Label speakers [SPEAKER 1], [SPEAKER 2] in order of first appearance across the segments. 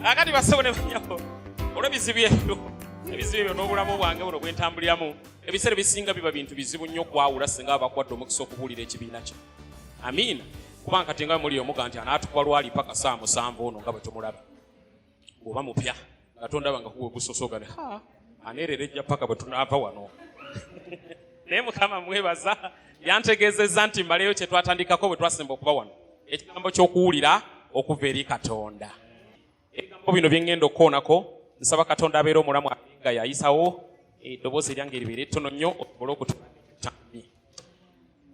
[SPEAKER 1] akati basebo ne banyabo olw'ebizibu ebyo ebizibu ebyo n'obulamu bwange buno bwentambuliramu ebiseera ebisinga biba bintu bizibu nnyo okwawula singa abakwadde omukisa okubuulira ekibiina kye amiina kubanga kati nga muli omuga nti anaatukuba lwali paka saa musanvu ono nga bwe tumulaba oba mupya nga tondaba nga kuwe gusosogane aneerera ejja paka bwe tunaava wano naye mukama mwebaza yantegeezezza nti mbaleyo kye twatandikako bwe twasemba okuba wano ekigambo ky'okuwulira okuva eri katonda ebigambo bino bye ŋŋenda okukoonako nsaba katonda abeera omulamu nga yayisawo eddoboozi eryange eribeera ettono nnyo osobole okutuaa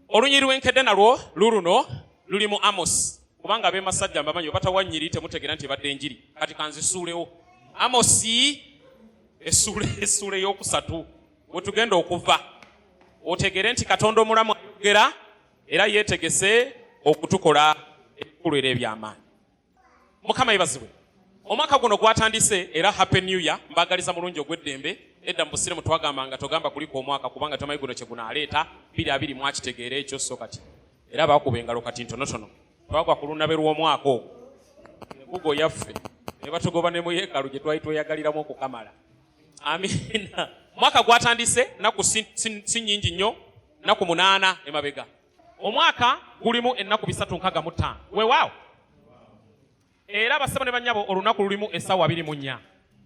[SPEAKER 1] olunyiri lwenkedde nalwo luluno luli mu amosi kubanga abemasajja mbamanyi obatawa nyiri temutegeera nti ebadde enjiri kati kanzisuulewo amosi esuula eyokusatu wetugenda okuva otegere nti katonda omulamu ayogera era yetegese okutukola ebikulwera ebyamaanyi mukama yebazibwe omwaka guno gwatandise era happy new year mbagaliza mulungi ogw'eddembe edda mu busiremu twagambanga togamba kuliko omwaka kubanga tomanyi guno kyegunaaleeta biri abiri mwakitegeera ekyo so kati era baakuba engalo kati ntonotono twagwa ku lunabe lw'omwaka ogwo enkugo yaffe ne batugoba ne mu yeekalu gye twali tweyagaliramu okukamala amiina mwaka gwatandise naku si nyingi nnyo naku munaana emabega omwaka gulimu ennaku bisatu nkaga mu ttaano wewaawo era abasaba ne bannyabo olunaku lulimu essaawa abiri mu nnya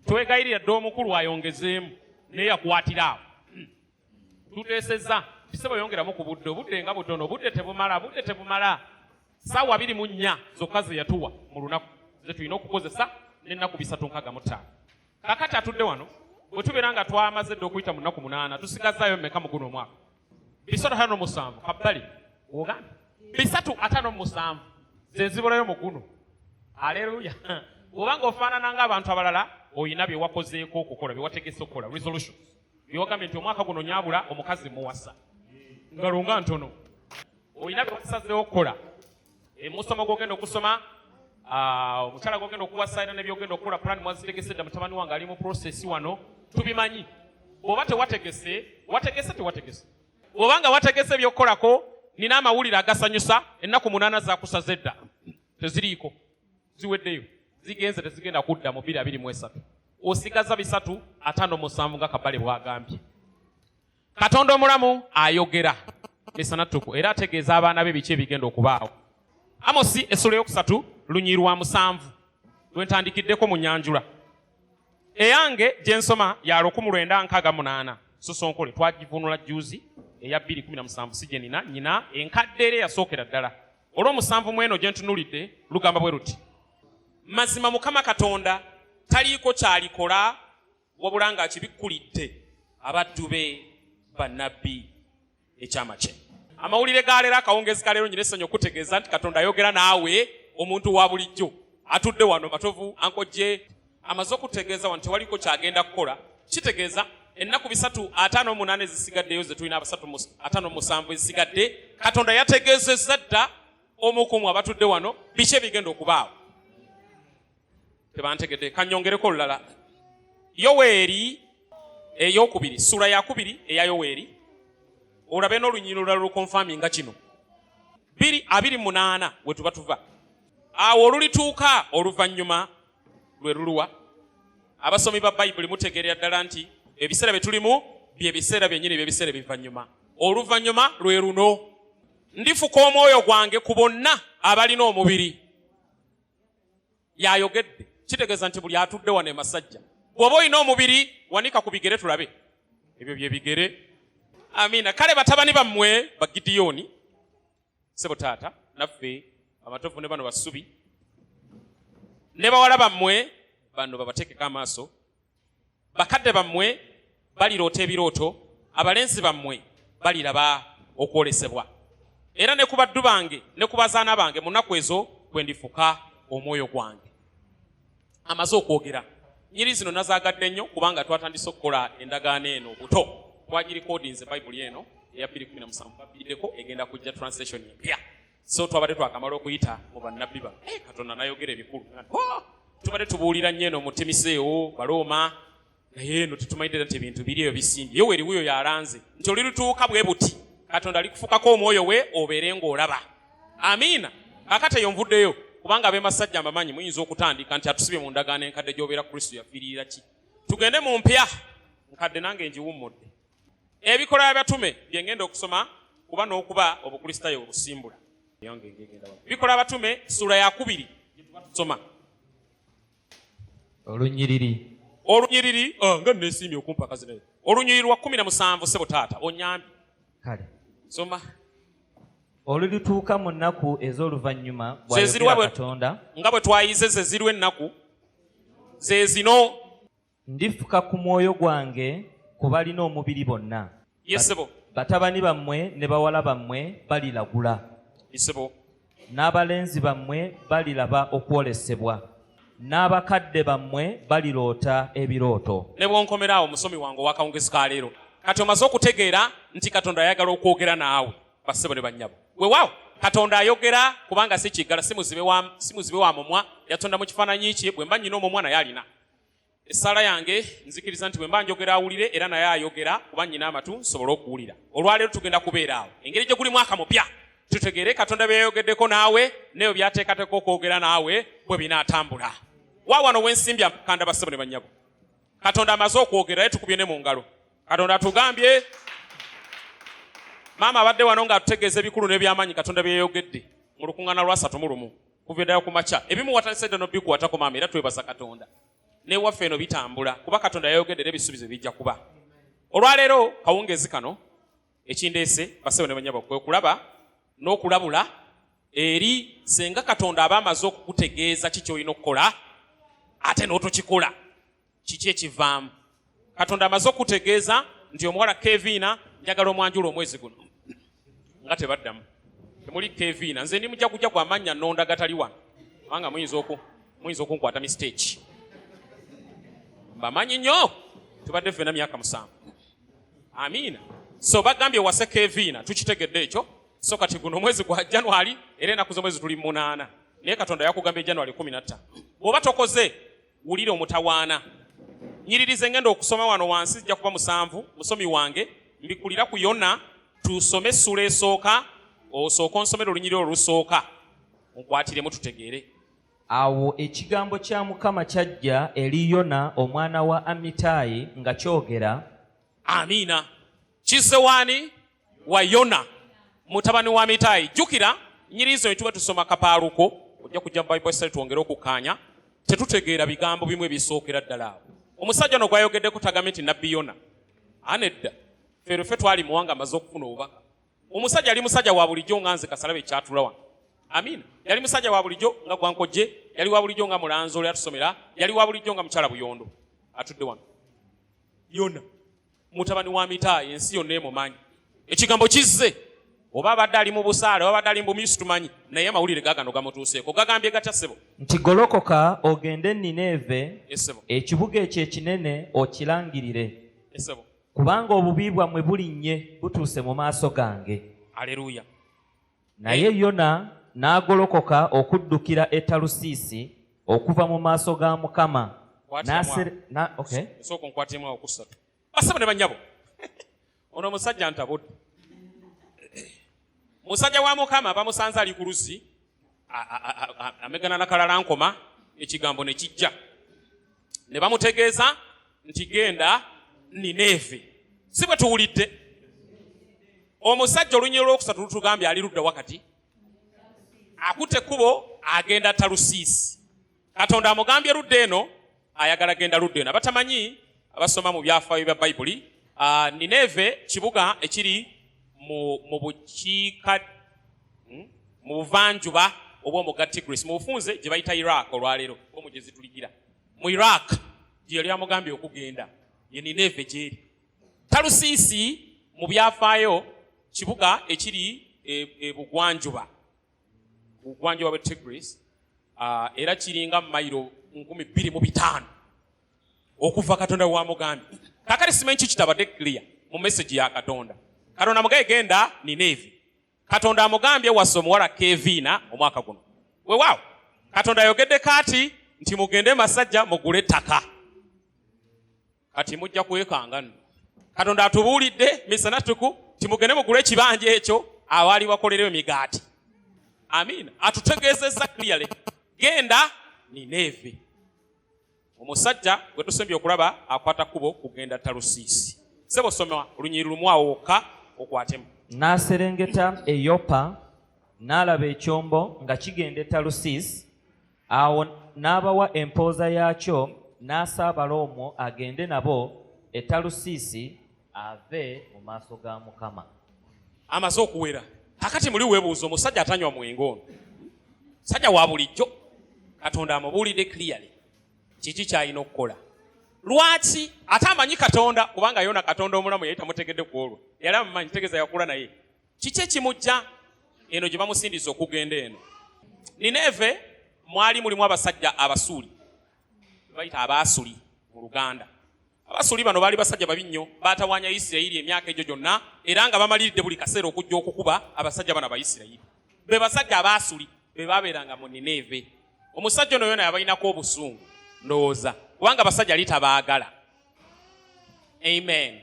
[SPEAKER 1] twegayirira dde omukulu ayongezeemu naye yakwatira awo hmm. tuteesezza bisebo yongeramu ku budde obudde nga butono obudde tebumala budde tebumala saawa abiri mu nnya zokka ze yatuwa mu lunaku ze tulina okukozesa n'ennaku bisatu nkaga mu ttaano kakati atudde wano bwe tubeera nga twamaze dde okuyita mu nnaku munaana tusigazzaayo mmeka mu guno omwaka bisatu atano musanvu kabbali ogamba bisatu atano musanvu zenzibulayo muguno aleluya obanga ofaanana nga abantu abalala olina byewakozeeko okukola byewategese okukola resolution byewagambye nti omwaka guno nyabula omukazi muwasa ngalonga ntono olina byewasazeewo okukola emusomo gwogenda okusoma ah, omukyala gwogenda okuwasa era nebyogenda okukola plan mwazitegese dda mutabani wange ali mu process wano tubimanyi bwoba tewategese wategese tewategese bwoba nga wategese ebyokukolako nina amawulire agasanyusa ennaku munaana zakusaze dda teziriiko ziweddeyo zigenze tezigenda kudda mu biri abiri mu esatu osigaza bisatu atano musanvu nga kabale bwagambye katonda omulamu ayogera misana ttuku era ategeeza abaana be biki ebigenda okubaawo amosi essula eyokusatu lunyi lwa musanvu lwentandikiddeko mu nyanjula eyange gye nsoma ya lukumu lwenda nkaaga munaana sosonkole twagivunula juzi eya bbiri kumi na musanvu si gye nina nyina enkadde era eyasookera ddala olw'omusanvu mu eno gye ntunulidde lugamba bwe luti mazima mukama katonda taliiko kyalikola wabula ng'akibikkulidde abaddu be bannabbi ekyama kye amawulire ga leero akawungeezi ka leero nyina essanyu okutegeeza nti katonda ayogera naawe omuntu wa bulijjo atudde wano matovu ankojje amaze okutegeeza wano tewaliko kyagenda kukola kitegeeza ennaku bisatu ataano omunaana ezisigaddeyo ze tulina abasatu ataano omusanvu ezisigadde katonda yategeezezza dda omukumu abatudde wano biki ebigenda okubaawo tebantegedde kanyongereko olulala yoweeri eyokubiri sula yakubiri eya yoweeri olabe n'olunyiriro olulala olukonfami nga kino biri abiri munaana wetuba tuva awo olulituuka oluvannyuma lwe luluwa abasomi ba bayibuli mutegeerera ddala nti ebiseera bye tulimu bye biseera byennyini byebiseera ebivannyuma oluvannyuma lwe luno ndifuka omwoyo gwange ku bonna abalina omubiri yayogedde kitegeeza nti buli atudde wano emasajja bwoba olina omubiri wanika ku bigere tulabe ebyo byebigere amiina kale batabani bammwe bagidiyoni sebo taata naffe amatovu ne bano basubi ne bawala bammwe bano babateekeko amaaso bakadde bammwe baliroota ebirooto abalenzi bammwe baliraba okwolesebwa era ne ku baddu bange ne ku bazaana bange mu nnaku ezo kwe ndifuka omwoyo gwange amaze okwogera nyiri zino nazagadde nnyo kubanga twatandise okukola endagaano eno buto twagirikodinze bayibuli eno eya 217 babiddeko egenda kujja translation empya so twabadde twakamala okuyita mu bannabbi bano eh, katonda nayogera ebikulu oh, tubadde tubuulira nnyo eno mutemiseewo balooma naye eno tetumanyidde nti ebintu biri eyo bisimbye yo weriwuyo yalanze nti oli lutuuka bwe buti katonda alikufukako omwoyo we obeere ng'olaba amiina kakati eyo nvuddeyo kubanga abemasajja mbamanyi muyinza okutandika nti atusibye mu ndagaano enkadde gy'obeera kristo yafiirira ki tugende mu mpya nkadde nange ngiwummudde Ebikolwa by'abatume bye ngenda okusoma kuba n'okuba obukristaayo obusimbula. Ebikolwa abatume ssuula ya kubiri gye tuba tusoma. Olunyiriri. Olunyiriri oh, nga nneesiimye okumpa akazi naye. Olunyiriri lwa kumi na musanvu ssebo taata onyambi. Kale.
[SPEAKER 2] Soma. Olutuuka mu nnaku ez'oluvannyuma bw'ayogera Katonda. Nga bwe twayize
[SPEAKER 1] ze ziriwo ennaku ze zino. Ndifuka
[SPEAKER 2] ku mwoyo gwange ku balina omubiri bonna. Yes, sebo.
[SPEAKER 1] Batabani bammwe
[SPEAKER 2] ne bawala bammwe balilagula. Yes, sebo.
[SPEAKER 1] N'abalenzi
[SPEAKER 2] bammwe balilaba okwolesebwa. N'abakadde bammwe baliroota ebirooto. Ne bw'onkomera awo
[SPEAKER 1] musomi wange ow'akawungezi ka leero, kati omaze okutegeera nti Katonda ayagala okwogera naawe, bassebo ne bannyabo. Weewaawo, Katonda ayogera kubanga si kiggala, si muzibe wa, si muzibe wa mumwa, yatonda mu kifaananyi kye, bwe mba nnyina omumwa naye alina. essaala yange nzikiriza nti bwe mba njogera awulire era naye ayogera kuba nnyina amatu nsobole okuwulira olwaleero tugenda kubeera awo engeri gye guli mwaka mupya tutegeere katonda bye yayogeddeko naawe neyo byateekateeka okwogera naawe bwe binaatambula wa wano wensimbya kanda bassebo ne bannyabo katonda amaze okwogera naye tukubye ne mu ngalo katonda atugambye maama abadde wano nga atutegeeza ebikulu n'ebyamaanyi katonda bye yayogedde mu lukuŋŋaana lwasatu mu lumu kuva eddala ku makya ebimu watandisa edda nobikwatako maama era twebaza katonda newaffe eno bitambula kuba katonda yayogedde era ebisuubizo bijja kuba olwaleero kawungeezi kano ekindeese basebo ne banyabo kwe kulaba n'okulabula eri senga katonda aba amaze okukutegeeza ki kyolina okukola ate n'otokikola kiki ekivaamu katonda amaze okutegeeza nti omuwala keviina njagala omwanjula omwezi guno nga tebaddamu temuli keviina nze ndi mujaguja gwa mannya nonda gatali wano kubanga muyinza oku muyinza okunkwata mistake mbamanyi nnyo tubadde fena myaka musanvu amiina so bagambye wase keviina tukitegedde ekyo so kati guno omwezi gwa january era enaku zomwezi tuli munaana naye katonda yakugambye january kumi natta bwoba tokoze wulira omutawaana nyiririze ngenda okusoma wano wansi zijja kuba musanvu musomi wange mbikulira ku yona tusome essula esooka osooka onsomera olunyirira olusooka nkwatiremu tutegeere awo
[SPEAKER 2] ekigambo kya mukama kyajja eri yona omwana wa amitaayi nga kyogera amiina
[SPEAKER 1] kizze waani wa yona mutabani wa mitayi jjukira nyiriizo ne tuba tusoma kapaaluko ojja kujja mu bible study twongere okukkaanya tetutegeera bigambo bimu ebisookera ddala awo omusajja ono gwayogeddeko tagambe nti nabbi yona anedda feerefe twali muwanga amaze okufuna obubaka omusajja yali musajja wa bulijjo nga nze kasalabe ekyatula wano amiina yali musajja wa bulijjo nga gwankojje yali wa bulijjo nga mulanzi oli atusomera yali wa bulijjo nga mukyala buyondo atudde wano yona mutabani wa mitaayi ensi yonna emumanyi ekigambo kizze oba abadde ali mu busaale oba abadde ali mu bumyusi tumanyi naye amawulire gagano gamutuuseeko gagambye gatya ssebo nti golokoka
[SPEAKER 2] ogende nineeve esebo ekibuga
[SPEAKER 1] ekyo ekinene
[SPEAKER 2] okilangirire esebo
[SPEAKER 1] kubanga obubi
[SPEAKER 2] bwammwe bulinnye butuuse mu maaso gange aleluya
[SPEAKER 1] naye
[SPEAKER 2] yona n'agolokoka okuddukira e talusiisi okuva mu maaso ga mukama
[SPEAKER 1] basaba ne banyabo ono omusajja ntabudde musajja wa mukama bamusanze ali ku luzzi amegana nakalala nkoma ekigambo ne kijja ne bamutegeeza nti genda nineevi si bwe tuwulidde omusajja olunyiro lwokusatu lutugambye ali ludda wakati akutte ekkubo agenda talusiisi katonda amugambye ludda eno ayagala genda ludda eno abatamanyi abasoma mu byafaayo bya bayibuli ah, nineeve kibuga ekiri mu bukiika hmm? mu buvanjuba obw'omugga tigris mu bufunze gye bayita iraq olwaleero omugezi tuligira mu iraq gye yali amugambye okugenda ye nineeve gyeri talusiisi mu byafaayo kibuga ekiri ebugwanjuba e, ku bugwanjuba bwe Tigris uh, era kiringa mayiro nkumi bbiri mu bitaano okuva katonda wamugambye kakati simanyi ki kitabadde clear mu message ya katonda katonda mugaye genda nineevi katonda amugambye wasa omuwala keviina omwaka guno wewaawo katonda ayogedde kaati nti mugende masajja mugule ettaka kati mujja kwekanga nno katonda atubuulidde misana tuku timugende mugula ekibanja ekyo awaali wakolerewo emigaati amiina atutegeezezza clearly genda nineeve omusajja gwe tusembye okulaba akwata kubo kugenda talusiisi sebo soma olunyiri lumu awo wokka okwatemu n'aserengeta
[SPEAKER 2] eyopa n'alaba ekyombo nga kigenda e talusiisi Awo n'abawa empooza yaakyo, n'asaabala omwo agende nabo e Talusiisi ave mu maaso ga Mukama. Amaze
[SPEAKER 1] okuwera. Kakati muli webuuza omusajja atanywa mwenge ono. Sajja wa bulijjo. Katonda amubuulidde clearly. Kiki kyalina okukola? Lwaki ate amanyi Katonda kubanga yona Katonda omulamu yali tamutegedde ku olwo. Yali amumanyi tegeza yakula naye. kiki ekimujja eno gye bamusindiza okugenda eno nineeve mwali mulimu abasajja abasuuli bayita abaasuli mu luganda abasuli bano baali basajja babi nnyo baatawanya isirayiri emyaka egyo gyonna era nga bamaliridde buli kaseera okujja okukuba abasajja bano abaisirayiri be basajja abaasuli be baabeeranga mu nineeve omusajja ono yona yabalinako obusungu ndowooza kubanga abasajja yali tabaagala amen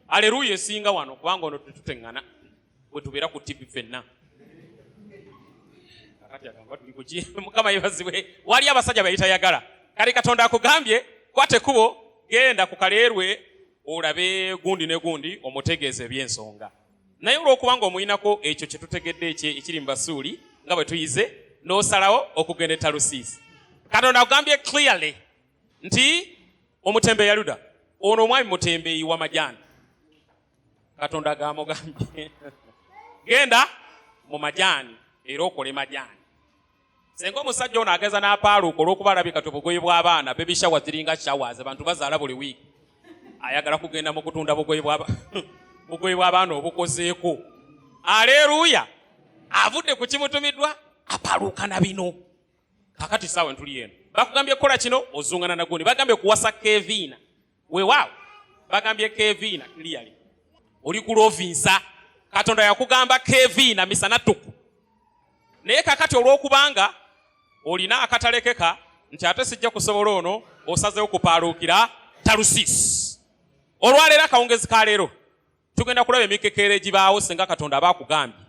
[SPEAKER 1] aleluya esinga wano kubanga ono tetuteŋŋana bwe tubeera ku tivi fenna mukama yebazibwe wali abasajja bayitayagala kale katonda akugambye kwate kubo genda ku kaleerwe olabe gundi ne gundi omutegeeza ebyensonga naye olwokubanga omuyinako ekyo kyetutegedde ekye ekiri mu basuuli nga bwe tuyize n'osalawo okugenda etalusiisi katonda akugambye clearly nti omutembe yaluda ono omwami mutembeeyi wa majani katonda gamugambye genda mu majani era okole majani senga omusajja ono ageza n'apaaluuka olwokuba alabika ti obugoye bw'abaana bebishawa ziringa shawers abantu bazaala buli wiiki ayagala kugenda mu kutunda bugoye bw'abaana obukozeeko aleeruuya avudde ku kimutumiddwa apaaluuka na bino kakati saawa entuli eno bakugambye kukola kino ozungana nagundi bagambye kuwasa keviina wewaawo bagambye keviina clearly oli kulovinsa katonda yakugamba keviina misana tuku naye kakati olwokubanga olina akatalekeka nti ate sijja kusobola ono osazewo kupaaluukira talusiisi olwaleero akawungezi ka leero tugenda kulaba emikekeera egibaawo singa katonda aba akugambye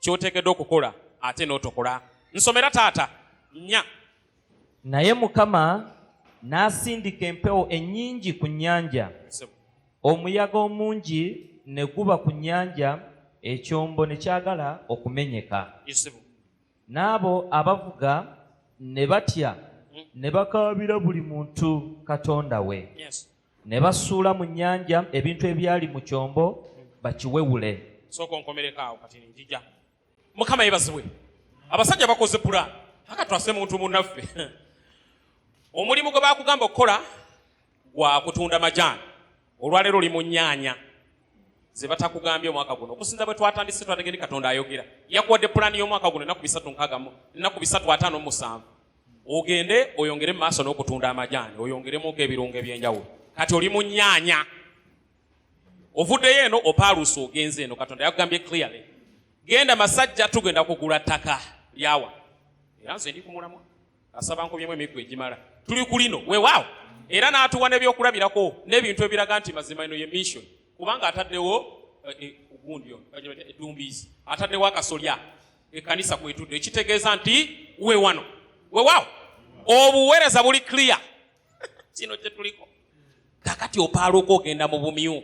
[SPEAKER 1] kyoteekeddwa okukola ate n'otokola nsomera taata nya naye
[SPEAKER 2] mukama n'asindika empewo ennyingi ku nnyanja omuyaga omungi ne guba ku nnyanja ekyombo ne kyagala okumenyeka n'abo abavuga ne batya mm. ne bakaabira buli muntu katonda we ne basuula mu nnyanja ebintu ebyali mu kyombo bakiwewule sooka onkomereko
[SPEAKER 1] awo kati njija mukama yebazibwe abasajja bakoze pulaani aka twase muntu munaffe omulimu gwe bakugamba okukola gwa kutunda majaani olwaleero oli mu nyaanya ze batakugambye omwaka guno okusinza bwe twatandise twategede katonda ayogera yakuwadde pulaani y'omwaka guno enaku bisatu nkagamu enaku bisatu ataano musanvu ogende oyongere mu maaso n'okutunda amajaani oyongeremuko ebirungo ebyenjawulo kati oli mu nyaanya ovuddeyo eno opaaluusa ogenze eno katonda yakugambye clearly genda masajja tugenda kugula ttaka lyawa era nze ndi kumulamwa asaba nkobyemu emiggo egimala tuli ku lino wewaawo era n'atuwa n'ebyokulabirako n'ebintu ebiraga nti mazima eno ye mission kubanga ataddewo eh, eh, gundi edumbiizi ataddewo akasolya ekanisa kwetudde ekitegeeza nti we wano wewaawo obuweereza buli clear kino kyetuliko kakati opaaluuka ogenda mu bumyu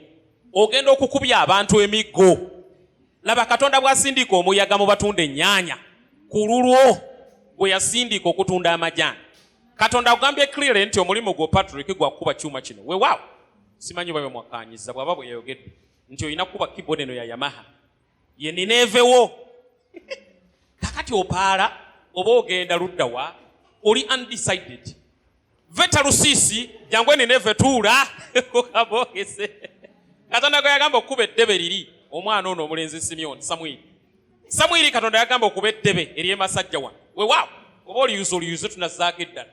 [SPEAKER 1] ogenda okukubya abantu emiggo laba katonda bwasindika omuyaga mu batunda ennyanya ku lulwo gwe yasindika okutunda amajaani katonda agambye clearly nti omulimu gwo patrick gwa kukuba kyuma kino wewaawo simanyi oba bemwakanyiza bwaba bweyayogedde nti olina kukuba keyboard eno ya yamaha ye nineevewo kakati opaala oba ogenda ludda wa oli undecided veta lusiisi jangu enineeve tuula abogese katonda gwe yagamba okukuba eddebe liri omwana ono omulenzi simyoni samwiri samwiri katonda yagamba okuba eddebe ery'emasajja wa wewaawo oba oliyuza oliyuze tunazaako eddala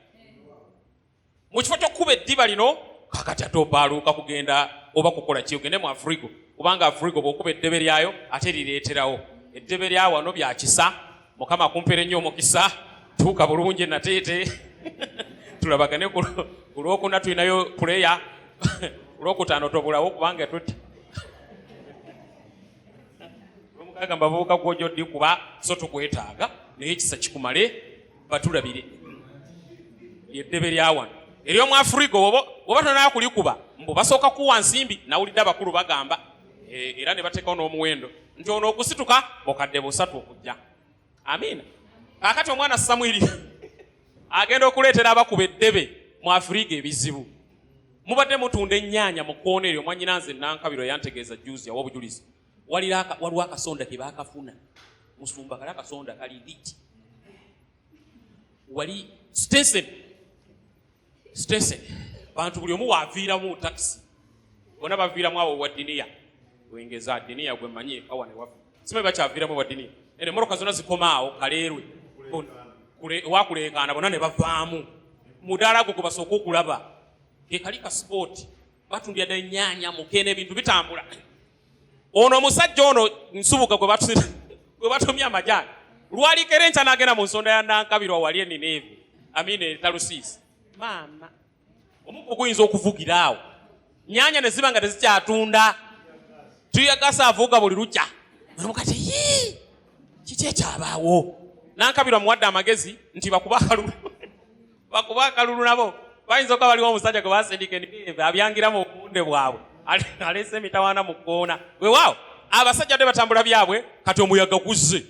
[SPEAKER 1] mu kifo ky'okukuba eddiba lino kakati ate obaaluuka kugenda oba kukola ki ogende mu afrigo kubanga afrigo bw'okuba eddebe lyayo ate lireeterawo eddebe lya wano bya kisa mukama akumpere nnyo omukisa tuuka bulungi nateete tulabagane ku lwokuna tulinayo puleya olwokutaano tobulawo kubanga tuti lwomukaaga mbavubuka gwojoddi kuba so tukwetaaga naye ekisa kikumale batulabire lyeddebe lya wano eryomu afuriga oba tonaa kulikuba mbu basooka kuwa nsimbi nawulidde abakulu bagamba e, era ne bateekawo n'omuwendo nti ono okusituka bukadde busatu okujja amiina kakati omwana samwiri agenda okuleetera abakuba eddebe mu afuriga ebizibu mubadde mutunda ennyaanya mu kkoona eryo mwanyina nze nankabiro yantegeeza juzi awa obujulizi waliwo akasonda tebakafuna musumba kali akasonda kali liti wali station station bantu buli omu waviiramu takisi bona baviiramu awo wadiniya wengeza diniya gwemanyi ekawa newafi simanyi bakyaviiramu wadiniya ene moroka zona zikomaawo kaleerwe wakuleekaana bona ne bavaamu mudaala gwo gwebasooka okulaba kekali ka sipooti batundira dda ennyanya mukene ebintu bitambula ono omusajja ono nsubuga gwe batumye amajaani lwalikera enkya nagenda mu nsonda ya nankabirwa wali enineevi amina etalusiisi maama omukugu guyinza okuvugira awo nyanya ne ziba nga tezikyatunda tuyagasa avuuga buli lukya mukati yii kiki ekyabaawo nankabirwa muwadde amagezi nti bakuba akalulu bakuba akalulu nabo bayinza okuba baliwo omusajja gwe basindika endive abyangira mu bunde bwabwe aleese emitawaana mu kkoona wewaawo abasajja dde batambula byabwe kati omuyaga guzze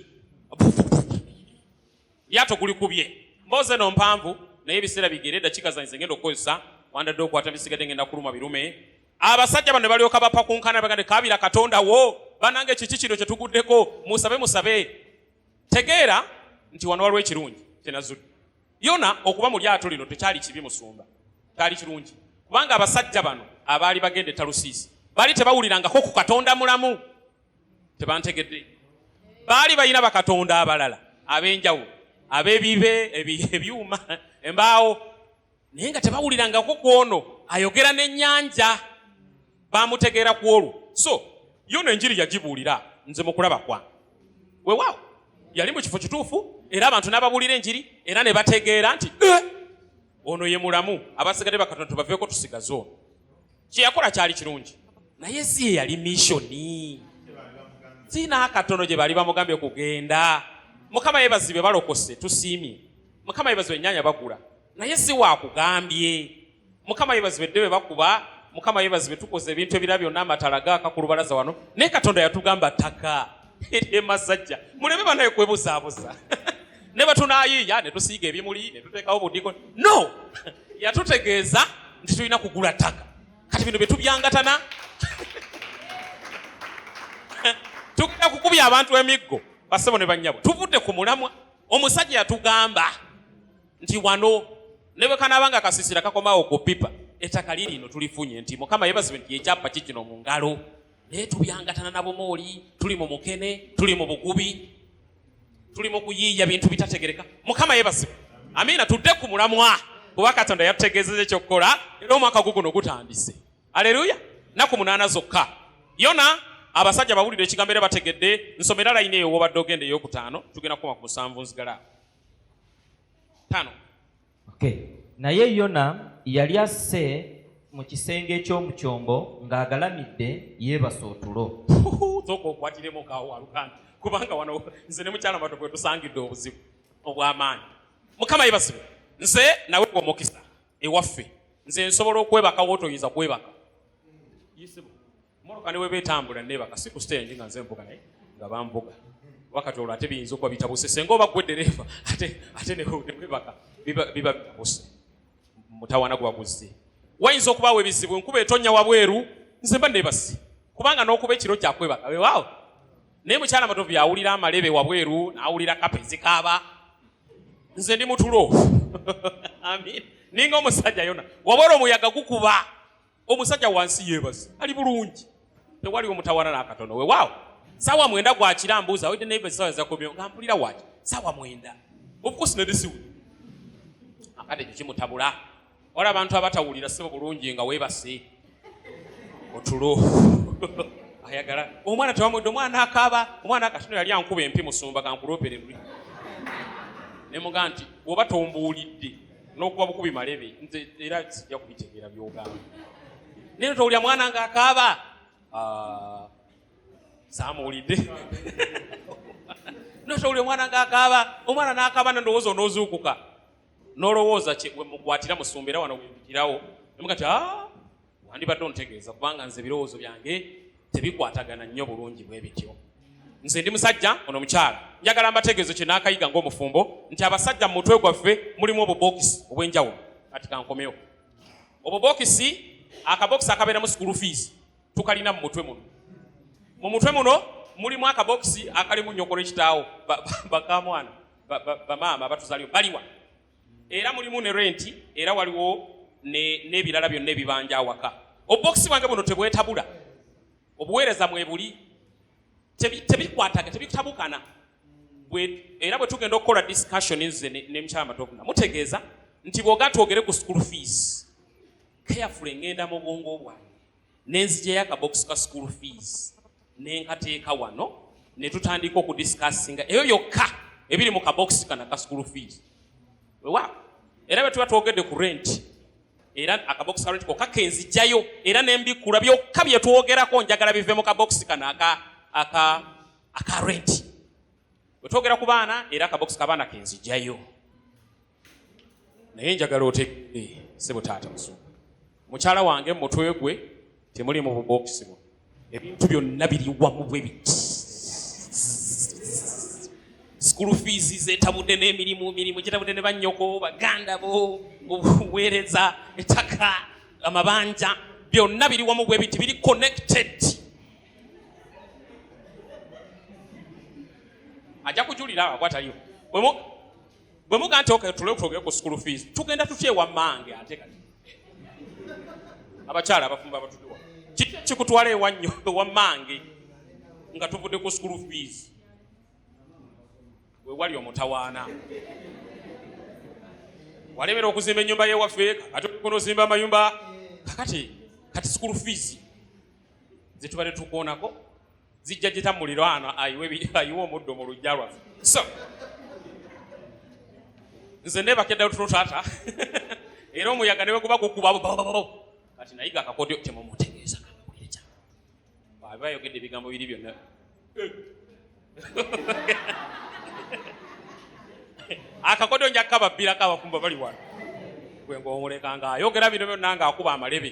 [SPEAKER 1] lyato gulikubye mbooze no mpanvu naye ebiseera bigere eddakiika zanyize ngenda okukozesa wandadde okwata bisigadde ngenda kuluma birume abasajja bano ne balyoka bapakunkana bagande kabira katonda wo banange kiki kino kye tuguddeko musabe musabe tegeera nti wano waliwo ekirungi kyenazudde yona okuba mu lyato lino tekyali kibi musumba kyali kirungi kubanga abasajja bano abaali bagenda etalusiisi baali tebawulirangako ku katonda mulamu tebantegedde baali balina bakatonda abalala ab'enjawulo ab'ebibe ebyuma embaawo naye nga tebawulirangako kwono ayogera n'ennyanja bamutegeera ku olwo so yono enjiri yagibuulira nze mukulaba kwange wewaawo yali mu kifo kituufu era abantu n'ababuulira enjiri era ne bategeera nti eh, ono ye mulamu abasigadde bakatonda tubaveeko tusigaze ono kye yakola kyali kirungi naye si ye yali misioni sina akatono gye baali bamugambye kugenda mukama yebazibe balokose tusiimye mukama yebazibe enyanya bagula naye si wakugambye mukama yebazibwe dde bebakuba mukama yebazibwe tukoze ebintu ebira byonna amatala gaaka ku lubalaza wano naye katonda yatugamba taka emasajja muleme banaye kwebuzaabuza ne batunayiiya ne tusiiga ebimuli ne tuteekawo budiko no yatutegeeza nti tulina kugula ttaka kati bino byetubyangatana tugenda kukubya abantu emiggo basebo ne banyabo tuvudde ku mulamwa omusajja yatugamba nti wano ne bwe kanaaba nga kasisira kakomawo ku pipa ettaka liri ino tulifunye nti mukama yebazibwe nti ekyapa ki kino mu ngalo naye tubyangatana na bumooli tuli mu mukene tuli mu bugubi tuli mu kuyiiya bintu bitategereka mukama yebazibwe amiina tudde ku mulamwa kuba katonda yatutegeezeza ekyokukola era omwaka gwo guno gutandise aleluya naku munaana zokka yona abasajja bawulire ekigambo era bategedde nsomera layini eyo wobadde ogenda eyokutaano tugenda kukoma ku musanvu nzigala tano
[SPEAKER 2] okay. naye yona yali asse mu kisenge eky'omu kyombo ng'agalamidde yeebasa otulo zoka okwatiremu
[SPEAKER 1] kawo aluganda kubanga wano nze ne mukyala mato bwe tusangidde obuzibu obw'amaanyi mukama yebasibe nze nawe omukisa ewaffe nze nsobola okwebaka wotoyinza kwebaka mmotoka ne bweba etambula neebaka si ku siteegi nga nze mvuga naye nga bambuga wakati olwo ate biyinza okuba bitabuse senga oba gwe ddereeva ate ate nebwebaka biba bitabuse mutawana gwa guzze wayinza okubaawo ebizibu enkuba etonya wabweru nze mba neebasi kubanga n'okuba ekiro kyakwebaka wewaawo naye mukyala matovu yawulira amalebe wabweru n'awulira kapa ezikaaba nze ndi mutulo amin ninga omusajja yona wabweru omuyaga gukuba omusajja wansi yebazi ali bulungi tewali omutawana nakatono wewaawo sawa mwenda gwakira mbuuza wede neiba sawa zakomyo nga mpulira waki sawa mwenda obukosi nedisiwe akade ekyo kimutabula wala abantu abatawulira sebo bulungi nga webase otulo ayagala omwana tewamwedde omwana akaaba omwana akatono yali ankuba empi musumba gankulopere luli nemuga nti oba tombuulidde n'okuba bukubi malebe nze era sijja kubitegeera byogamba naye towulira mwana nga akaaba ah, samuwulidde notowulira omwana nga akaaba omwana n'akaaba nandowooza onoozuukuka nolowooza kyemukwatira musumba era wano wempitirawo emugati ah, wandibadde ontegeeza kubanga nze ebirowoozo byange tebikwatagana nnyo bulungi bwe bityo nze ndi musajja ono omukyala njagala mbategeezo kye naakayiga ng'omufumbo nti abasajja mu mutwe gwaffe mulimu obubookisi obw'enjawulo kati kankomewo obubookisi akabookisi akabeeramu school fees tukalina mu mutwe muno mu mutwe muno mulimu akabookisi akalimu nyokolo ekitaawo bakamwana bamaama abatuzaliwo baliwa era mulimu ne renti era waliwo n'ebirala ne byonna ebibanja awaka obubokisi bwange buno tebwetabula obuweereza mwebuli tebikwataga tebitabukana era bwe tugenda okukola discussion nze ne mukyala matokuna mutegeeza nti bwoga twogere ku school fees carefully ngenda mu bwongo bwange ne nzijayo akabokisi ka school fees ne nkateeka wano ne tutandika okudiscussinga eyo yokka ebiri mu kabokisi kana ka school fees wewa era bwe tuba twogedde ku rent era akabokisi ka rent kokka ke nzijayo era ne mbikula byokka bye twogerako njagala bive mu kabokisi kana aka aka aka rent bwe twogera ku baana era akabokisi ka baana ke nzijayo naye njagala otegere sebo taata musumba mukyala wange mumutwe gwe temuli mu bubokisi bwo ebintu byonna biri wamu bwe biti sikulu fiizi zetabudde n'emirimu mirimu gitabudde ne bannyoko baganda bo obuweereza ettaka amabanja byonna biri wamu bwe biti biri connected ajja kujulira awo bwataliwo bwe muga nti okay tule twogere ku school fees tugenda tutya ewa mange ate kati abakyala abafumba abatudiwa kiki kikutwala ewa nnyo ewa mange nga tuvudde ku school fees wewali omutawaana walemera okuzimba ennyumba yewaffe ate okona ozimba amayumba kakati kati school fees zetubadde tukoonako zijja jita muliraano ayiwe omuddo mu lujja lwaffe so nze nebakeddayo tuno taata era omuyaga neweguba gukuba kati nayiga akakodyo temumutegeeza abayogedde ebigambo biri byonna akakodyo njakkababbirako abafumba bali wano gwe ngaomulekanga ayogera bino byonna ngaakuba amalebe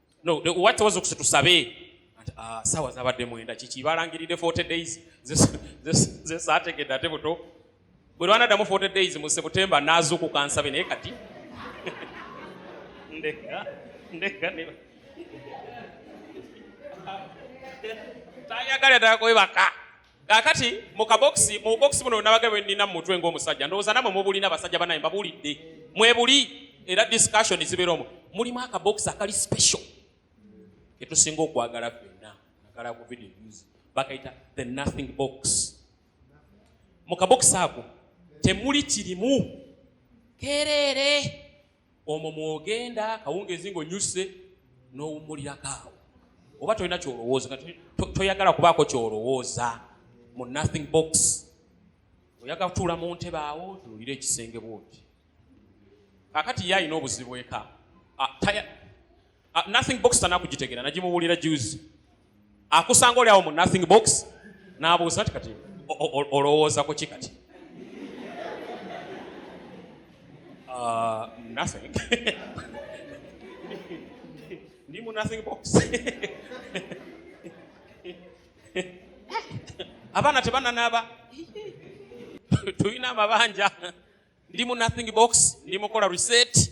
[SPEAKER 1] no what was okusa tusabe ah, sawa zabadde mwenda kiki balangiride 40 days ze sategedde ate buto bwe lwana damu 40 days mu September nazuku kansabe naye kati ndeka ndeka ne tayagala takoyebaka Kaakati mu kabokisi mu bokisi buno nabaga bwe nnina mu mutwe ng'omusajja ndowooza namwe mubulina basajja banaye mbabuulidde mwebuli era discussion zibeera omu mulimu akabokisi akali special ketusinga okwagala fenna nagala ku video news bakayita the nothing box mu kabokisi ako temuli kirimu kereere omwo mwogenda kawungeezi ng'onyuse n'owummulirako awo oba tolina kyolowooza toyagala kubaako kyolowooza mu nothing box oyaga kutuula mu ntebe awo tunuulira ekisenge bwoti kakati ye alina obuzibu eka ah, Uh, nothing box tanakugitegera nagimuwulira juzi akusanga oli awo mu nothing box nabuuza ti kati olowooza ku ki kati uh, nothing ndi mu nothing box abaana tebananaaba tulina amabanja ndi mu nothing box ndi mukola reset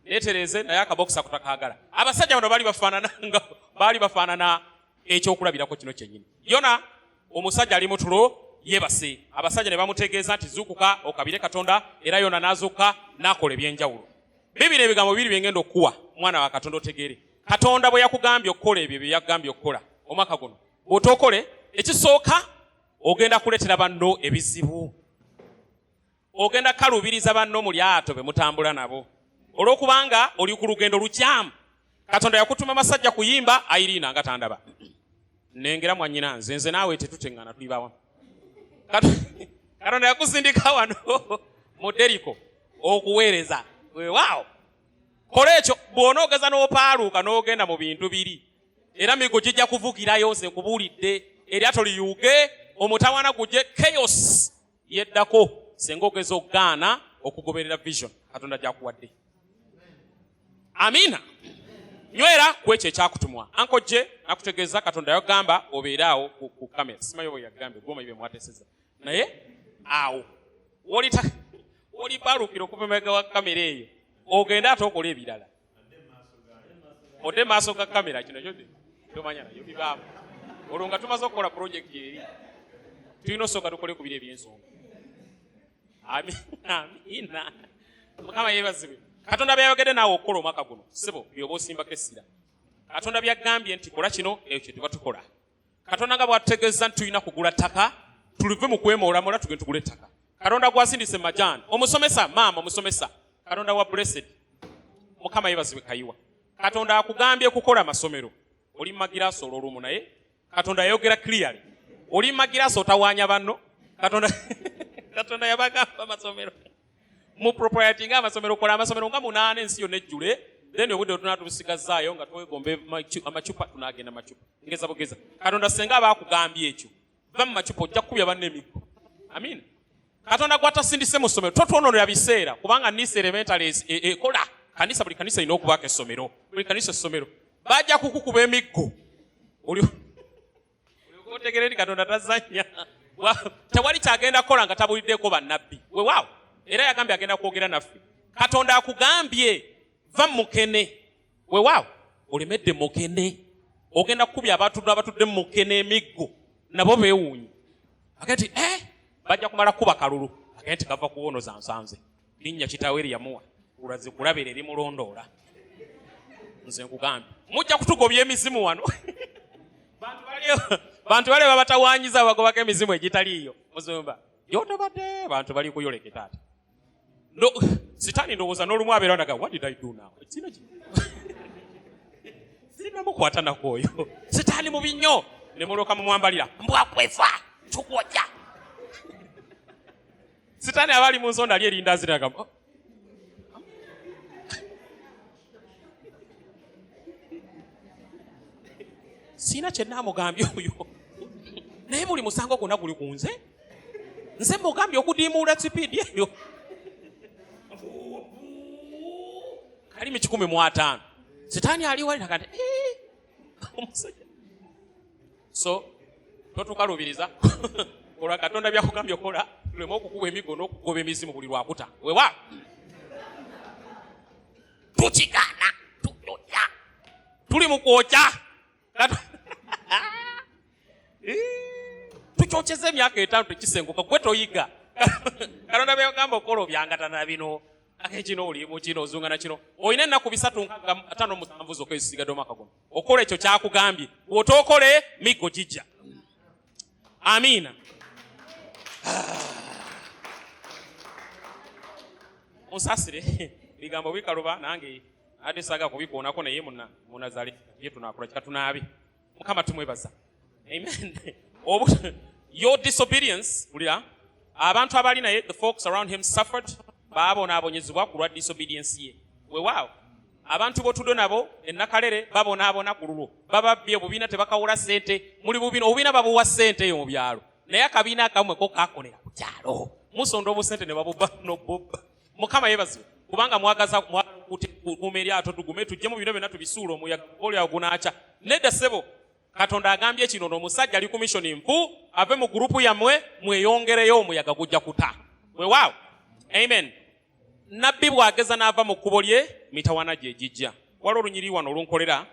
[SPEAKER 1] netereeze naye akabokisa kutakagala abasajja bano baali bafaanana nga baali bafaanana ekyokulabirako kino kyenyini yona omusajja ali mutulo yebase abasajja ne bamutegeeza nti zuukuka okabire katonda era yona n'azuuka n'akola ebyenjawulo bibiri ebigambo bibiri byengenda okukuwa mwana wa katonda otegeere katonda bwe yakugambye okukola ebyo bye yakugambye okukola omwaka guno bw'otookole ekisooka ogenda kuleetera banno ebizibu ogenda kukaluubiriza banno mu lyato be mutambula nabo olw'okubanga oli ku lugendo lukyamu katonda yakutuma amasajja kuyimba ayiriina nga tandaba nengera mwanyina nze nze naawe tetuteŋŋana tuli bawa katonda yakusindika wano mu deriko okuweereza wewaawo kola ekyo bw'ona ogeza n'opaaluuka n'ogenda mu bintu biri era migo gijja kuvugirayo nze nkubuulidde eryato liyuuge omutawana guje chaos yeddako senga ogeza okugaana okugoberera vision katonda gyakuwadde amiina nywera ku ekyo ekyakutumwa ankojje nakutegeeza katonda yagamba obeere awo ku kamera simayo bwe yagambe gwomanyi bye mwateseza naye awo oli balukira okuva emabega wa kamera eyo ogende ate okola ebirala ode maaso ga kamera kino kyode tomanya nayo bibaamu olwo nga tumaze okukola purojekiti eri tulina osooka tukole ku biri ebyensonga amina mukama yebazibwe katonda byayogedde naawe okukola omwaka guno sibo byoba osimbako essira katonda byagambye nti kola kino ekyo tuba tukola katonda nga bwatutegeeza nti tulina kugula ttaka tulive mu kwemoolamola tugende tugula ettaka katonda gwasindise majaani omusomesa maama omusomesa katonda wa blessed mukama yebazibwe kayiwa katonda akugambye kukola masomero oli magiraasi olwolumu naye katonda yayogera clearly oli magiraasi otawaanya banno katonda katonda yabagamba masomero mu propriety nga amasomero kola amasomero nga munaana ensi yonna ejjule then obudde otuna tubusigazaayo nga twegombe amacupa tunagenda macupa ngeza bugeza katonda senga aba akugambye ekyo va mu macupa ojja kukubya banna emiggo amin katonda gwatasindise mu ssomero totwononera biseera kubanga nisa elementary e, e, ekola kanisa buli kanisa erina okubaako essomero buli kanisa essomero bajja kukukuba emiggo otegere nti katonda tazanya tewali kyagenda kukola nga tabuliddeko bannabbi wewaawo era yagambye agenda kwogera naffe katonda akugambye va mukene wewaawo olemedde mukene ogenda kukubya abatudde abatudde mukene emiggo nabo bewuunyi agee ti e eh, bajja kumala kukuba kalulu agee ti gava kuwonoza nsanze linnya kitaawe lye yamuwa kulaze kulabera erimulondoola nze nkugambye mujja kutugobya emizimu wano bantu bale babatawanyiza bagobako emizimu egitaliiyo muzumba yotobadde bantu bali kuyoleke taata no, sitaani ndowooza n'olumu abeera naga what did i do now sinamukwata nakwoyo sitaani mubi nnyo ne mulyoka mumwambalira mbwakwefa tukwoja sitani aba ali mu nsonda ali erinda ziraga oh. siina kyenaamugambye oyo naye buli musango gwonna guli ku nze nze mugambye okudiimuula sipiidi eyo ali mu kikumi mu ataano sitaani ali wali nakati eh, omusajja so totukalubiriza olwa katonda byakugambye okola tuleme okukuba emigo n'okugoba emizimu buli lwakuta wewa tukigaana tuyoya tuli mu kwokya tukyokyeza emyaka etaano tekisenguka gwe toyiga katonda byagamba okukola obyangatana bino akekino oli mukino ozungana kino olina ennaku bisatu nkatano musanvu zokka ezisigadde omwaka guno okola ekyo kyakugambye bwotookole miggo gijja amiina musasire ebigambo bikaluba nange ate saga kubikuonako naye munazale ye tunakula kika tunaabe mukama tumwebaza Amen. Your disobedience, ulira, abantu abali naye, the folks around him suffered, babonaabonyezebwa ku lwa disobedience ye. Wewaawo. abantu botudo nabo enakalere babonaabona ku lulwo bababbye obubiina tebakawola sente muli bubiina obubiina babuwa sente eyo mu byalo naye akabiina akamwe ko kakolera ku kyalo musonda obusente ne babubba nobubba mukama yebaziwe kubanga mwagaza mwagala okukuuma eryato tugume tujjemu bino byonna tubisuula omuyaga olyawo gunaakya nedda ssebo katonda agambye kino no omusajja ali kumishoni nfu ave mu gurupu yammwe mweyongereyo omuyaga gujja kuta wewaawo amen nabbi bwageza n'ava mu kkubo lye mitawana gye gijja wali olunyiri wano olunkolera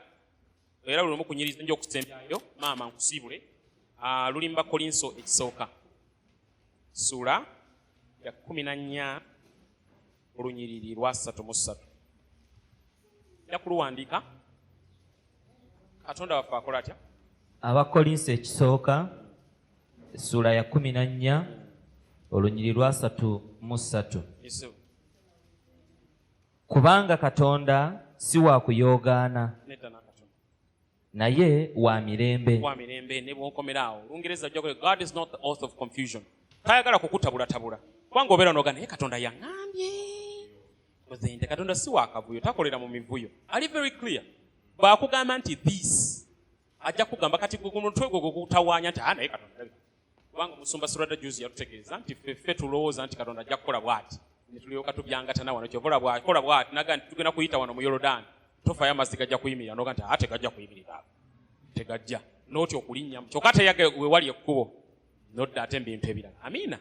[SPEAKER 1] era lulimu kunyiriza nja okusembyayo maama nkusiibule ah, luli mu bakolinso ekisooka sula ya kumi na nnya olunyiriri lwa ssatu mu ssatu ja kuluwandiika katonda waffe akola atya abakolinsi
[SPEAKER 2] ekisooka essuula ya kumi na nnya olunyiri lwasatu mu ssatu kubanga katonda si wa kuyoogaana
[SPEAKER 1] naye
[SPEAKER 2] wa mirembe wa mirembe ne
[SPEAKER 1] bwonkomera awo olungereza ojja kule god is not the author of confusion tayagala kukutabulatabula kubanga obeera noga naye katonda yaŋambye ozende katonda si wakavuyo takolera mu mivuyo ali very clear bwakugamba nti this ajja kugamba kati gwe ku mutwe gwe gwegutawaanya nti ah, naye katonda kubanga omusumba surada juzi yatutegeeza nti feffe tulowooza nti katonda ajja kukola bwati netulyoka tubyangatana wano kyovola bwakola bwati naga nti tugenda kuyita wano mu yorodaani tofayo amazzi gajja kuyimirira noga nti ate gajja kuyimirira tegajja notya okulinnyamu kyoka ate yage wewali ekkubo nodda ate mbintu ebirala amiina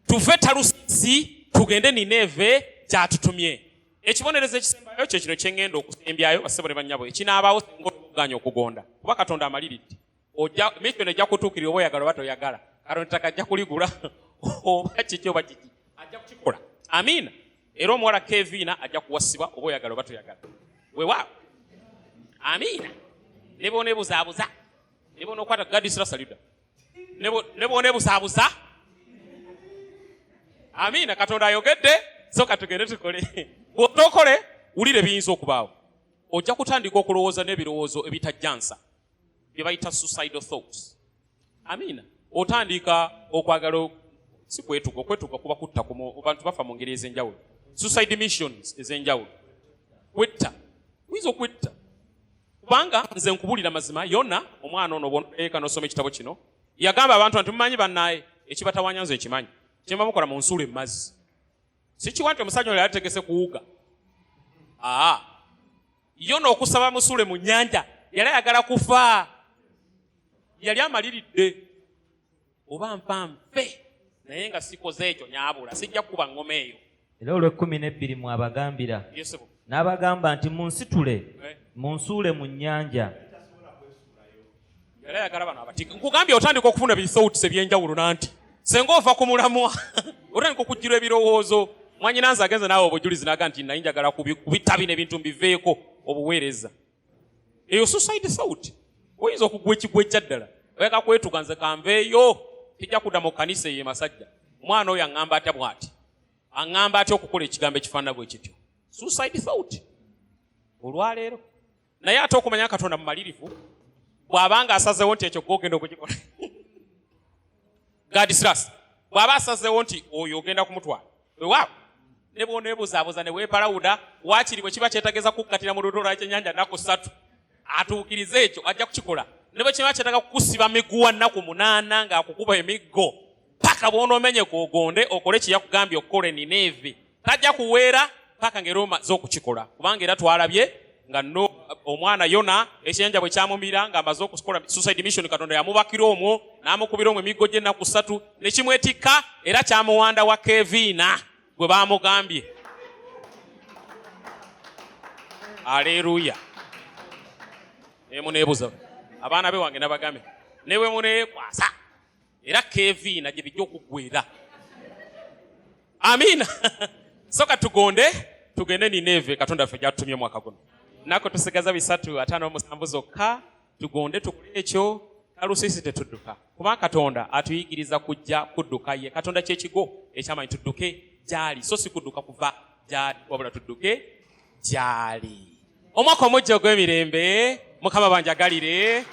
[SPEAKER 1] tuve talusi tugende nineeve kyatutumye ekibonerezo ekisembayo kyo kino kyengenda okusembyayo basebo ne bannyabo ekinaabaawo senga okuganya okugonda kuba katonda amaliridde ojja mission ejja kutuukirira oba oyagala oba toyagala katonda ettaka ajja kuligula oba kiki oba kiki ajja kukikola amiina era omuwala keviina ajja kuwasibwa oba oyagala oba toyagala wewaawo amiina ne boneebuzaabuza ne bonokwata gadisirasalida ne boneebuzaabuza amiina katonda ayogedde so katugende tukole bwotokole wulire biyinza okubaawo ojja kutandika okulowooza n'ebirowoozo ebitajjansa bye bayita suicidal thoughts amiina otandika okwagala si kwetuga okwetuga kuba kutta bantu bafa mu ngeri ez'enjawulo suicide missions ez'enjawulo kwetta oyinza okwetta kubanga nze nkubulira mazima yona omwana ono bweka nosoma ekitabo kino yagamba abantu nti mumanyi banaye ekibatawanya nze ekimanyi kyemba mukola mu nsulo emazzi sikiwa nti omusajja ono yategese kuwuga aa yona okusaba musule mu nyanja yali ayagala kufa yali amaliridde oba nfa nfe naye nga sikoze ekyo nyabula sijja kukuba ngoma eyo era olw'ekkumi
[SPEAKER 2] n'ebbiri mwabagambira
[SPEAKER 1] n'abagamba nti
[SPEAKER 2] munsitule eh. munsuule mu nnyanja
[SPEAKER 1] yali ayagala bano abatika nkugambye otandika okufuna bisouts ebyenjawulo nanti senga ova ku mulamwa otandika okujjirwa ebirowoozo mwanyina nze agenze naawe obujulizi naga nti naye njagala kubitabi nebintu mbiveeko obuweereza eyo suicide south oyinza okugwa ekigwa ekya ddala oyaka kwetuga nze kanveeyo tijja kudda mu kanisa eyo emasajja omwana oyo aŋŋamba atya bwati aŋŋamba atya okukola ekigambo ekifaanana bwe kityo suicide south olwaleero naye ate okumanya katonda mumalirivu bwabanga asazewo nti ekyo gogenda okukikola gadisras bwaba asazewo nti oyo ogenda kumutwala wewaabo ne bwonebuzabuza newepalawuda wakiri bwe kiba kyetageza kukkatira mu ludola kyenyanja naku satu atuukirize ekyo ajja kukikola ne bwe kiba kyetaga kukusiba miguwa nnaku munaana ng'akukuba emiggo paka bwonomenye kwogonde okole kyeyakugambye okukola enina evi tajja kuweera paka nga era omaze okukikola kubanga era twalabye nga no omwana yona ekiyanja bwe kyamumira nga amaze okukola suicide mission katonda yamubakira omwo n'amukubira omwo emiggo gy'ennaku ssatu ne kimwetikka era kyamuwanda wa keviina gwe baamugambye aleeruya emuneebuza abaana be wange nabagambe ne bwe muneekwasa era keviina gye bijja okuggwera amiina soka tugonde tugende nineeve katonda ffe gyatutumye omwaka guno nako tusigaza bisatu ataano omusanvu zokka tugonde tukole ekyo kalusisi tetudduka kuba katonda atuyigiriza kujja kudduka ye katonda kyekigo ekyamanyi tudduke gyali so si kudduka kuva wabula tudduke gyali omwaka omujja ogw'emirembe mukama banjagalire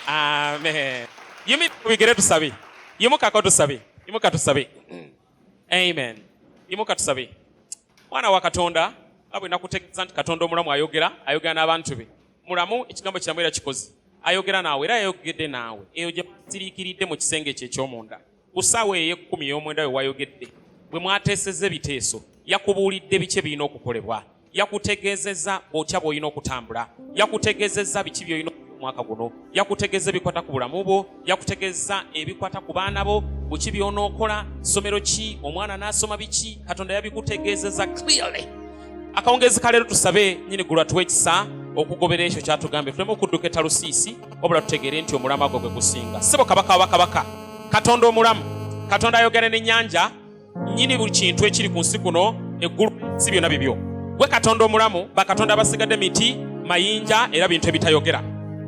[SPEAKER 1] amen yimubigere tusabe yimukako tusabe yimuka tusabe amen yimuka tusabe mwana wa katonda nga bwe nakutegeeza nti katonda omulamu ayogera ayogera n'abantu be mulamu ekigambo kiramu era kikozi ayogera naawe era yayogedde naawe eyo gye basiriikiridde mu kisenge ekyo eky'omunda ku ssaawa ey'ekkumi ey'omwenda we wayogedde bwe mwateeseza ebiteeso yakubuulidde biki ebirina okukolebwa yakutegeezezza otya bw'olina okutambula yakutegeezezza biki by'olina omwaka guno yakutegeeza ebikwata ku bulamu bwo yakutegeeza ebikwata ku baana bo buki by'onookola ssomero ki omwana n'asoma biki katonda yabikutegeezeza clearly akawungeezi ka leero tusabe nyini gulu atuwa ekisa okugobera ekyo kyatugambye tuleme okudduka etalusiisi wabula tutegeere nti omulamu agwo gwe gusinga sebo kabaka wa bakabaka katonda omulamu katonda ayogera n'ennyanja nyini buli kintu ekiri ku nsi kuno eggulu si byonna bibyo gwe katonda omulamu bakatonda abasigadde miti mayinja era bintu ebitayogera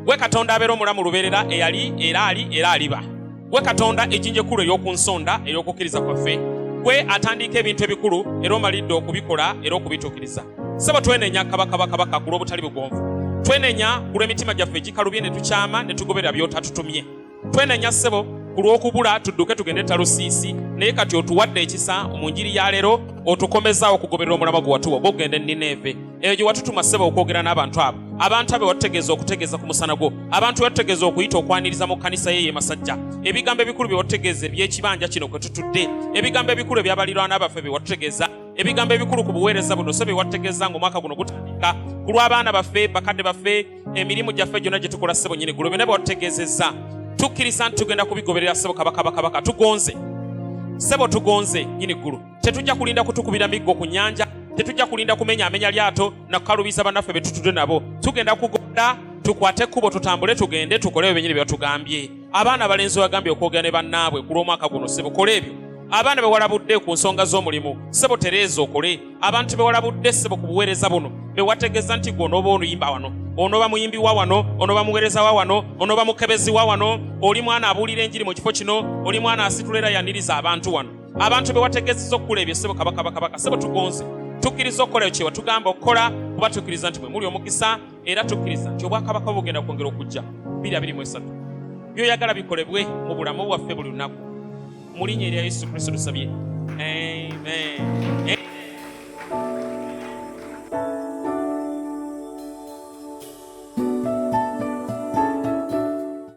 [SPEAKER 1] gwe katonda abeera omulamu lubeerera eyali era ali era aliba Gwe Katonda ejinja ekkulu ey'oku nsonda ey'okukkiriza kwaffe, gwe atandiika ebintu ebikulu era omalidde okubikola era okubituukiriza. Ssebo twenenya kabaka bakabaka ku lw'obutali bugonvu. Twenenya ku lw'emitima gyaffe egikalubye ne tukyama ne tugoberera by'otatutumye. Twenenya ssebo ku lw'okubula tudduke tugende e Talusiisi, naye kati otuwadde ekisa mu njiri ya leero, otukomezaawo okugoberera omulamwa gwe watuwa ogw'okugenda e Nineeve. eyo gye watutuma ssebo okwogera n'abantu abo abantu abe watutegeeza okutegeeza ku musana gwo abantu be watutegeeza okuyita okwaniriza mu kkanisa ye yemasajja ebigambo ebikulu bye watutegeeza eby'ekibanja kino kwe tutudde ebigambo ebikulu ebyabalirwana baffe bye watutegeeza ebigambo ebikulu ku buweereza buno so bye watutegeeza ng'omwaka guno gutandika ku lw'abaana baffe bakadde baffe emirimu gyaffe gyonna gye tukola ssebo nyini gulo byonna bye watutegeezezza tukkiriza nti tugenda kubigoberera ssebo kabaka bakabaka tugonze ssebo tugonze nyini ggulu Tetujja kulinda kutukubira miggo ku nyanja, tetujja kulinda kumenya amenya lyato na kukalubiza banaffe betutudde nabo. Tugenda kugoda tukwate kubo tutambule tugende tukole ebyo benyini byatugambye. Abaana balenzi wagambye okwogera ne bannaabwe ku lw'omwaka guno sebo kola ebyo. Abaana bewalabudde ku nsonga z'omulimu sebo tereeza okole. Abantu bewalabudde sebo ku buweereza buno bewategeza nti gwe onooba onuyimba wano onooba muyimbi wa wano onooba muweereza wa wano onooba mukebezi wa wano oli mwana abuulira enjiri mu kifo kino oli mwana asitula era yaniriza abantu wano abantu be wategezeza okukola ebyo sebo kabaka bakabaka sebo tugonze tukkiriza okukola ekyo tugamba okukola kuba tukkiriza nti mwe muli omukisa era tukkiriza nti obwakabaka bugenda kwongera okujja biri abiri mu esatu byoyagala bikolebwe mu bulamu bwaffe buli lunaku mulinya erya yesu kristo tusabye amen